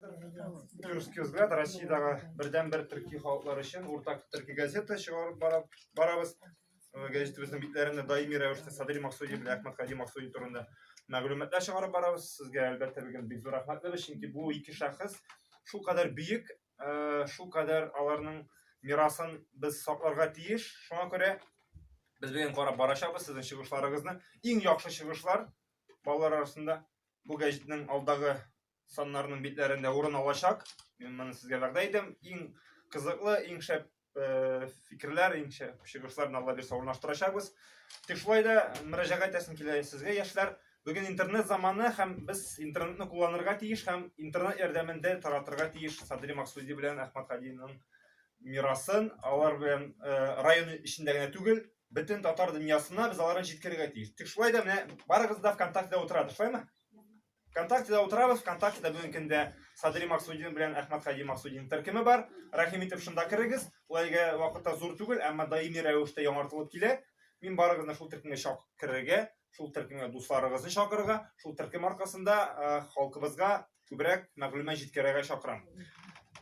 Юрский взгляд Россиядәге бердән бер төрки халыклар өчен уртак төрки газета чыгарып барабыз. Э, Газетебезнең битләрендә даими рәвештә Садри Максуди белән Әхмәт Хади Максуди турында мәгълүматлар чыгарып барабыз. Сезгә әлбәттә бүген бик зур рәхмәтле чөнки бу ике шәхес шул кадәр бөек, э, шул кадәр аларның мирасын без сакларга тиеш. Шуңа күрә без бүген карап барачабыз сезнең чыгышларыгызны. Иң яхшы чыгышлар балалар арасында бу газетның алдагы саннарның битләрендә урын алачак. Мин моны сезгә вәгъдә итәм. Иң кызыклы, иң шәп э, фикерләр, иң шәп чыгышларны Алла бирсә урнаштырачакбыз. Тик шулай да мөрәҗәгать итәсем килә сезгә, яшьләр. Бүген интернет заманы һәм без интернетны кулланырга тиеш һәм интернет ярдәмендә таратырга тиеш Садри Максуди белән Әхмәт Хадиның мирасын. Алар белән э, район эчендә генә түгел, бөтен татар дөньясына без аларны җиткерергә тиеш. Тик шулай да менә барыгыз да ВКонтактеда утырады, шулаймы? ВКонтактеда утырабыз, ВКонтактеда бүгенге көндә Садри Максудин белән Әхмәт Хади Максудин төркеме бар. Рәхим итеп шунда керегез. Ул әлегә вакытта зур түгел, әмма даими рәвештә яңартылып килә. Мин барыгызны шул төркемгә чак керергә, шул төркемгә дусларыгызны чакырырга, шул төркем аркасында э, халкыбызга күбрәк мәгълүмат җиткерергә чакырам.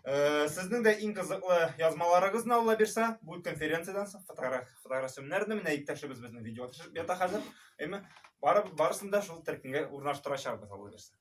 Э, сезнең дә иң кызыклы язмаларыгызны Алла бирсә, бу конференциядән соң фотограф фотографияне менә иптәшебез безнең видео төшереп ята хәзер. Әйме, бары, барысын да шул төркемгә урнаштырачакбыз алла бирсә.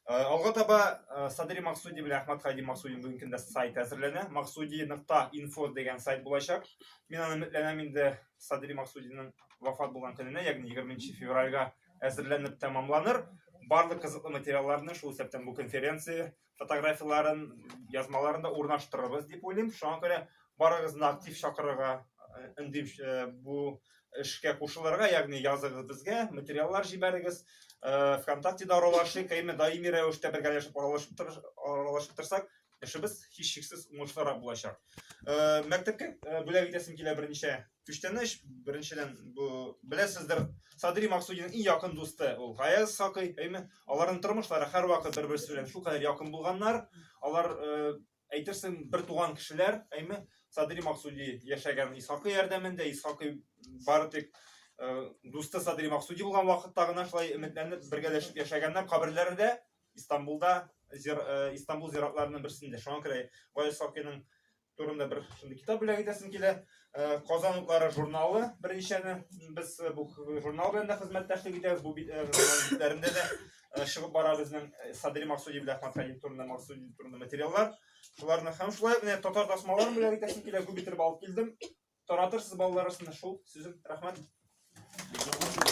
Э, алга таба э, Садри Максуди белән Әхмәт Хайди Максуди бүгенге көндә сайт әзерләнә. Максуди.info дигән сайт булачак. Мин аны өметләнәм инде Садри Максудиның вафат булган көненә, ягъни 20 февральгә әзерләнеп тәмамланыр. Барлык кызыклы материалларны шул исәптән бу конференция фотографияләрен, язмаларын да урнаштырырбыз дип уйлыйм. Шуңа күрә барыгызны актив чакырырга өндим э, э, бу эшкә кушылырга, ягъни языгыз безгә, материаллар җибәрегез. Э, ВКонтактеда аралашыйк, әйме даими рәвештә бергәләшеп аралашып аралашып торсак, эшебез һичшиксез уңышлырак булачак. Мәктәпкә бүләк итәсем килә берничә Күчтәнәч беренчедән бу беләсездер, Садри Максудинның иң якын дусты ул Гаяз Сакый, әйме? Аларның тормышлары һәрвакыт бер-берсе белән шулкадәр якын булганнар. Алар э, әйтерсең бер туган кешеләр, әйме? Садри Максуди яшәгән Исхакый ярдәмендә, Исхакый бары тик э, дусты Садри Максуди булган вакытта гына шулай өметләнеп бергәләшеп яшәгәннәр. Каберләре дә Истанбулда, э, Истанбул зиратларының берсендә. Шуңа күрә Гаяз Сакыйның турында бер шундый китап бүләк итәсем килә. Э, Казан утлары журналы беренчәне без э, бу журнал белән дә хезмәттәшлек итәбез. Бу э, журналларында да чыгып бара безнең Садри Максуди белән Ахмад Хәлим турында Максуди турында материаллар. Шуларны һәм шулай менә татар тасмаларын бүләк итәсем килә. Күп итеп алып килдем. Таратырсыз балалар арасында шул сүзем. Рәхмәт.